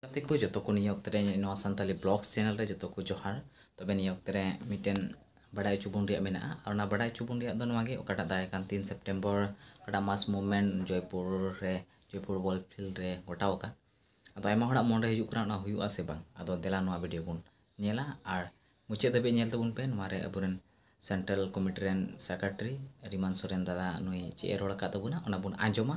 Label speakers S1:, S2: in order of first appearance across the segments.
S1: ᱜᱟᱛᱮ ᱠᱚ ᱡᱚᱛᱚ ᱠᱚ ᱱᱤᱭᱟᱹ ᱚᱠᱛᱮ ᱨᱮ ᱱᱚᱣᱟ ᱥᱟᱱᱛᱟᱞᱤ ᱵᱞᱚᱜᱥ ᱪᱮᱱᱮᱞ ᱨᱮ ᱡᱚᱛᱚ ᱠᱚ ᱡᱚᱦᱟᱨ ᱛᱚᱵᱮ ᱱᱤᱭᱟᱹ ᱚᱠᱛᱮ ᱨᱮ ᱢᱤᱫᱴᱮᱱ ᱵᱟᱰᱟᱭ ᱦᱚᱪᱚ ᱵᱚᱱ ᱨᱮᱭᱟᱜ ᱢᱮᱱᱟᱜᱼᱟ ᱟᱨ ᱚᱱᱟ ᱵᱟᱰᱟᱭ ᱦᱚᱪᱚ ᱵᱚᱱ ᱨᱮᱭᱟᱜ ᱫᱚ ᱱᱚᱣᱟ ᱜᱮ ᱚᱠᱟᱴᱟᱜ ᱫᱟᱨᱟᱭ ᱠᱟᱱ ᱛᱤᱱ ᱥᱮᱯᱴᱮᱢᱵᱚᱨ ᱚᱠᱟᱴᱟᱜ ᱢᱟᱥ ᱢᱩᱵᱷᱢᱮᱱᱴ ᱡᱚᱭᱯᱩᱨ ᱨᱮ ᱡᱚᱭᱯᱩᱨ ᱵᱚᱞ ᱯᱷᱤᱞᱰ ᱨᱮ ᱜᱚᱴᱟᱣ ᱟᱠᱟᱱ ᱟᱫᱚ ᱟᱭᱢᱟ ᱦᱚᱲᱟᱜ ᱢᱚᱱᱨᱮ ᱦᱤᱡᱩᱜ ᱠᱟᱱᱟ ᱚᱱᱟ ᱦᱩᱭᱩᱜᱼᱟ ᱥᱮ ᱵᱟᱝ ᱟᱫᱚ ᱫᱮᱞᱟ ᱱᱚᱣᱟ ᱵᱷᱤᱰᱤᱭᱳ ᱵᱚᱱ ᱧᱮᱞᱟ ᱟᱨ ᱢᱩᱪᱟᱹᱫ ᱫᱷᱟᱹᱵᱤᱡ ᱧᱮᱞ ᱛᱟᱵᱚᱱ ᱯᱮ ᱱᱚᱣᱟ ᱨᱮ ᱟᱵᱚᱨᱮᱱ ᱥᱮᱱᱴᱨᱟᱞ ᱠᱚᱢᱤᱴᱤ ᱨᱮᱱ ᱥᱮᱠᱨᱮᱴᱟᱨᱤ ᱨᱤᱢᱟᱱ ᱥᱚᱨᱮᱱ ᱫᱟᱫᱟ ᱱᱩᱭ ᱪᱮᱫ ᱮ ᱨᱚᱲ ᱟᱠᱟᱫ ᱛᱟᱵᱚᱱᱟ ᱚᱱᱟ ᱵᱚᱱ ᱟᱸᱡᱚᱢᱟ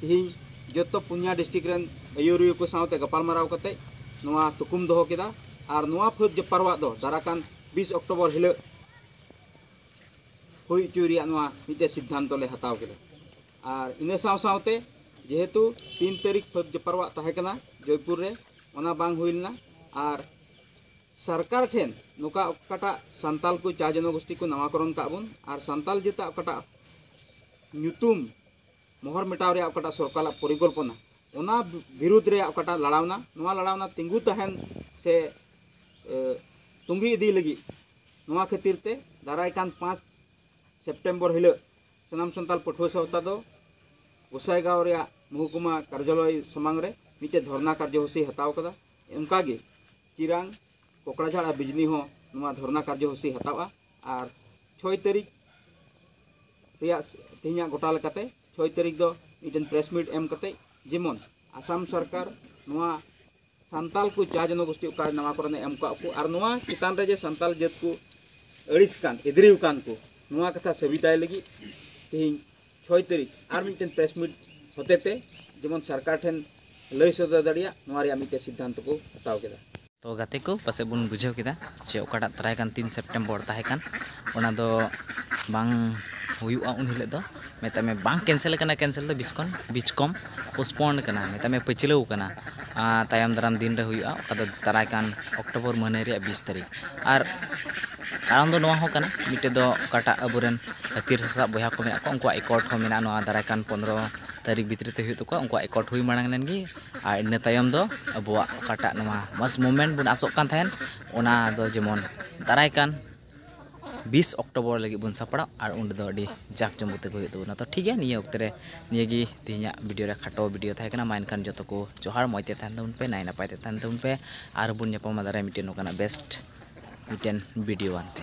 S1: ᱛᱮᱦᱮᱧ ᱡᱚᱛᱚ ᱯᱩᱱᱭᱟ ᱰᱤᱥᱴᱨᱤᱠ ᱨᱮᱱ ᱟᱹᱭᱩᱨᱤᱭᱟᱹ ᱠᱚ ᱥᱟᱶᱛᱮ ᱜᱟᱯᱟᱞᱢᱟᱨᱟᱣ ᱠᱟᱛᱮ ᱱᱚᱣᱟ ᱛᱩᱠᱩᱢ ᱫᱚᱦᱚ ᱠᱮᱫᱟ ᱟᱨ ᱱᱚᱣᱟ ᱯᱷᱟᱹᱫ ᱡᱟᱯᱟᱨᱣᱟᱜ ᱫᱚ ᱫᱟᱨᱟᱠᱟᱱ ᱵᱤᱥ ᱚᱠᱴᱳᱵᱚᱨ ᱦᱤᱞᱳᱜ ᱦᱩᱭ ᱦᱚᱪᱚᱭ ᱨᱮᱭᱟᱜ ᱱᱚᱣᱟ ᱢᱤᱫᱴᱮᱱ ᱥᱤᱫᱽᱫᱷᱟᱱᱛᱚ ᱞᱮ ᱦᱟᱛᱟᱣ ᱠᱮᱫᱟ ᱟᱨ ᱤᱱᱟᱹ ᱥᱟᱶ ᱥᱟᱶᱛᱮ ᱡᱮᱦᱮᱛᱩ ᱛᱤᱱ ᱛᱟᱹᱨᱤᱠᱷ ᱯᱷᱟᱹᱫ ᱡᱟᱯᱟᱨᱣᱟᱜ ᱛᱟᱦᱮᱸ ᱠᱟᱱᱟ ᱡᱚᱭᱯᱩᱨ ᱨᱮ ᱚᱱᱟ ᱵᱟᱝ ᱦᱩᱭ ᱞᱮᱱᱟ ᱟᱨ ᱥᱚᱨᱠᱟᱨ ᱴᱷᱮᱱ ᱱᱚᱝᱠᱟ ᱚᱠᱟᱴᱟᱜ ᱥᱟᱱᱛᱟᱞ ᱠᱚ ᱪᱟ ᱡᱚᱱᱚᱜᱳᱥᱴᱤ ᱠᱚ ᱱᱟᱣᱟᱠᱚᱨᱚᱱ ᱠᱟᱜ ᱵᱚᱱ ᱟᱨ ᱥᱟᱱᱛᱟᱞ ᱡᱟᱹᱛᱟᱜ ᱚᱠᱟᱴᱟᱜ ᱧᱩᱛᱩᱢ ᱢᱚᱦᱚᱨ ᱢᱮᱴᱟᱣ ᱨᱮᱭᱟᱜ ᱚᱠᱟᱴᱟᱜ ᱥᱚᱨᱠᱟᱨᱟᱜ ᱯᱚᱨᱤᱠᱚᱞᱯᱚᱱᱟ ᱚᱱᱟ ᱵᱤᱨᱩᱫᱷ ᱨᱮᱭᱟᱜ ᱚᱠᱟᱴᱟᱜ ᱞᱟᱲᱟᱣᱱᱟ ᱱᱚᱣᱟ ᱞᱟᱲᱟᱣᱱᱟ ᱛᱤᱸᱜᱩ ᱛᱟᱦᱮᱱ ᱥᱮ ᱛᱩᱸᱜᱤ ᱤᱫᱤ ᱞᱟᱹᱜᱤᱫ ᱱᱚᱣᱟ ᱠᱷᱟᱹᱛᱤᱨ ᱛᱮ ᱫᱟᱨᱟᱭ ᱠᱟᱱ ᱯᱟᱸᱪ ᱥᱮᱯᱴᱮᱢᱵᱚᱨ ᱦᱤᱞᱳᱜ ᱥᱟᱱᱟᱢ ᱥᱟᱱᱛᱟᱲ ᱯᱟᱹᱴᱷᱩᱣᱟᱹ ᱥᱟᱶᱛᱟ ᱫᱚ ᱜᱚᱥᱟᱭᱜᱟᱶ ᱨᱮᱭᱟᱜ ᱢᱚᱦᱩᱠᱩᱢᱟ ᱠᱟᱨᱡᱟᱞᱚᱭ ᱥᱟᱢᱟᱝ ᱨᱮ ᱢᱤᱫᱴᱮᱱ ᱫᱷᱚᱨᱱᱟ ᱠᱟᱨᱡᱚᱥᱩᱪᱤ ᱦᱟᱛᱟᱣ ᱠᱟᱫᱟ ᱚᱱᱠᱟᱜᱮ ᱪᱤᱨᱟᱝ ᱠᱚᱠᱲᱟᱡᱷᱟᱲ ᱟᱨ ᱵᱤᱡᱽᱱᱤ ᱦᱚᱸ ᱱᱚᱣᱟ ᱫᱷᱚᱨᱱᱟ ᱠᱟᱨᱡᱚᱥᱩᱪᱤ ᱦᱟᱛᱟᱣᱟ ᱟᱨ ᱪᱷᱚᱭ ᱛᱟᱹᱨᱤᱠᱷ ᱨᱮᱭᱟᱜ ᱛᱮᱦᱮᱧᱟᱜ ᱜᱚᱴᱟ ᱞᱮᱠᱟᱛᱮ ᱪᱷᱚᱭ ᱛᱟᱹᱨᱤᱠᱷ ᱫᱚ ᱢᱤᱫᱴᱮᱱ ᱯᱨᱮᱥ ᱢᱤᱴ ᱮᱢ ᱠᱟᱛᱮᱫ ᱡᱮᱢᱚᱱ ᱟᱥᱟᱢ ᱥᱚᱨᱠᱟᱨ ᱱᱚᱣᱟ ᱥᱟᱱᱛᱟᱲ ᱠᱚ ᱡᱟ ᱡᱚᱱᱚᱜᱳᱥᱴᱤ ᱚᱠᱟ ᱱᱚᱣᱟ ᱠᱚᱨᱮᱱ ᱮᱢ ᱠᱟᱜ ᱠᱚ ᱟᱨ ᱱᱚᱣᱟ ᱪᱮᱛᱟᱱ ᱨᱮ ᱡᱮ ᱥᱟᱱᱛᱟᱲ ᱡᱟᱹᱛ ᱠᱚ ᱟᱹᱲᱤᱥ ᱠᱟᱱ ᱮᱫᱽᱨᱮ ᱟᱠᱟᱱ ᱠᱚ ᱱᱚᱣᱟ ᱠᱟᱛᱷᱟ ᱥᱟᱹᱵᱤᱛᱟᱭ ᱞᱟᱹᱜᱤᱫ ᱛᱮᱦᱮᱧ ᱪᱷᱚᱭ ᱛᱟᱹᱨᱤᱠᱷ ᱟᱨ ᱢᱤᱫᱴᱮᱱ ᱯᱨᱮᱥ ᱢᱤᱴ ᱦᱚᱛᱮᱛᱮ ᱡᱮᱢᱚᱱ ᱥᱚᱨᱠᱟᱨ ᱴᱷᱮᱱ ᱞᱟᱹᱭ ᱥᱚᱫᱚᱨ ᱫᱟᱲᱮᱭᱟᱜ ᱱᱚᱣᱟ ᱨᱮᱭᱟᱜ ᱢᱤᱫᱴᱮᱱ ᱥᱤᱫᱽᱫᱷᱟᱱᱛᱚ ᱠᱚ ᱦᱟᱛᱟᱣ ᱠᱮᱫᱟ᱾ ᱛᱚ ᱜᱟᱛᱮ ᱠᱚ ᱯᱟᱥᱮᱡ ᱵᱚᱱ ᱵᱩᱡᱷᱟᱹᱣ ᱠᱮᱫᱟ ᱡᱮ ᱚᱠᱟᱴᱟᱜ ᱫᱟᱨᱟᱭ ᱠᱟᱱ ᱛᱤᱱ ᱥᱮᱯᱴᱮᱢᱵᱚᱨ ᱛᱟᱦᱮᱸ ᱠᱟᱱ ᱚᱱᱟ ᱫᱚ ᱵᱟᱝ ᱦᱩᱭᱩᱜᱼᱟ ᱩᱱ ᱦᱤᱞᱚᱜ ᱫᱚ ᱢᱮᱛᱟᱜ ᱢᱮ ᱵᱟᱝ ᱠᱮᱱᱥᱮᱞ ᱟᱠᱟᱱᱟ ᱠᱮᱱᱥᱮᱞ ᱫᱚ ᱵᱤᱥ ᱠᱷᱚᱱ ᱵᱤᱥ ᱠᱚᱢ ᱯᱳᱥᱯᱚᱱᱰ ᱟᱠᱟᱱᱟ ᱢᱮᱛᱟᱜ ᱢᱮ ᱯᱟᱹᱪᱷᱞᱟᱹᱣ ᱟᱠᱟᱱᱟ ᱛᱟᱭᱚᱢ ᱫᱟᱨᱟᱢ ᱫᱤᱱ ᱨᱮ ᱦᱩᱭᱩᱜᱼᱟ ᱚᱠᱟ ᱫᱚ ᱫᱟᱨᱟᱭ ᱠᱟᱱ ᱚᱠᱴᱳᱵᱚᱨ ᱢᱟᱹᱦᱱᱟᱹ ᱨᱮᱭᱟᱜ ᱵᱤᱥ ᱛᱟᱹᱨᱤᱠᱷ ᱟᱨ ᱠᱟᱨᱚᱱ ᱫᱚ ᱱᱚᱣᱟ ᱦᱚᱸ ᱠᱟᱱᱟ ᱢᱤᱫᱴᱮᱡ ᱫᱚ ᱚᱠᱟᱴᱟᱜ ᱟᱵᱚ ᱨᱮᱱ ᱦᱟᱹᱛᱭᱟᱹᱨ ᱥᱟᱥᱟᱵ ᱵᱚᱭᱦᱟ ᱠᱚ ᱢᱮᱱᱟᱜ ᱠᱚᱣᱟ ᱩᱱᱠᱩᱣᱟᱜ ᱮᱠᱚᱴ ᱦᱚᱸ ᱢᱮᱱᱟᱜᱼᱟ ᱱᱚᱣᱟ ᱫᱟᱨᱟᱭ ᱠᱟᱱ ᱯᱚᱸᱫᱽᱨᱚ ᱛᱟᱹᱨᱤᱠᱷ ᱵᱷᱤᱛᱨᱤ ᱛᱮ ᱦᱩᱭᱩᱜ ᱛᱟᱠᱚᱣᱟ ᱩᱱᱠᱩᱣᱟᱜ ᱮᱠᱚᱴ ᱦᱩᱭ ᱢᱟᱲᱟᱝ ᱞᱮᱱ ᱜᱮ ᱟᱨ ᱤᱱᱟᱹ ᱛᱟᱭᱚᱢ ᱫᱚ ᱟᱵᱚᱣᱟᱜ ᱚᱠᱟᱴᱟᱜ ᱱᱚᱣᱟ ᱢᱟᱥ ᱢᱩᱵᱷᱢᱮᱱᱴ ᱵᱚᱱ ᱟᱥᱚᱜ ᱠᱟᱱ ᱛᱟᱦᱮᱱ ᱚᱱᱟ ᱫᱚ ᱡᱮᱢᱚᱱ ᱫᱟᱨᱟᱭ ᱠᱟᱱ ᱵᱤᱥ ᱚᱠᱴᱳᱵᱚᱨ ᱞᱟᱹᱜᱤᱫ ᱵᱚᱱ ᱥᱟᱯᱲᱟᱜ ᱟᱨ ᱚᱸᱰᱮ ᱫᱚ ᱟᱹᱰᱤ ᱡᱟᱠ ᱡᱚᱢᱚᱠ ᱛᱮᱜᱮ ᱦᱩᱭᱩᱜ ᱛᱟᱵᱚᱱᱟ ᱛᱚ ᱴᱷᱤᱠ ᱜᱮᱭᱟ ᱱᱤᱭᱟᱹ ᱚᱠᱛᱮ ᱨᱮ ᱱᱤᱭᱟᱹ ᱜᱮ ᱛᱮᱦᱮᱧᱟᱜ ᱵᱷᱤᱰᱤᱭᱳ ᱨᱮ ᱠᱷᱟᱴᱚ ᱵᱷᱤᱰᱤᱭᱳ ᱛᱟᱦᱮᱸ ᱠᱟᱱᱟ ᱢᱟ ᱮᱱᱠᱷᱟᱱ ᱡᱚᱛᱚ ᱠᱚ ᱡᱚᱦᱟᱨ ᱢᱚᱡᱽ ᱛᱮ ᱛᱟᱦᱮᱱ ᱛᱟᱵᱚᱱ ᱯᱮ ᱱᱟᱭ ᱱᱟᱯᱟᱭ ᱛᱮ ᱛᱟᱦᱮᱱ ᱛᱟᱵᱚᱱ ᱯᱮ ᱟᱨ ᱵᱚᱱ ᱧᱟᱯᱟᱢᱟ ᱫᱟᱨᱟᱭ ᱢᱤᱫᱴᱮᱡ ᱱᱚᱝᱠᱟᱱᱟᱜ ᱵᱮᱥᱴ ᱢᱤᱫᱴᱮᱱ ᱵᱷᱤᱰᱤᱭᱳ ᱟᱱᱛᱮ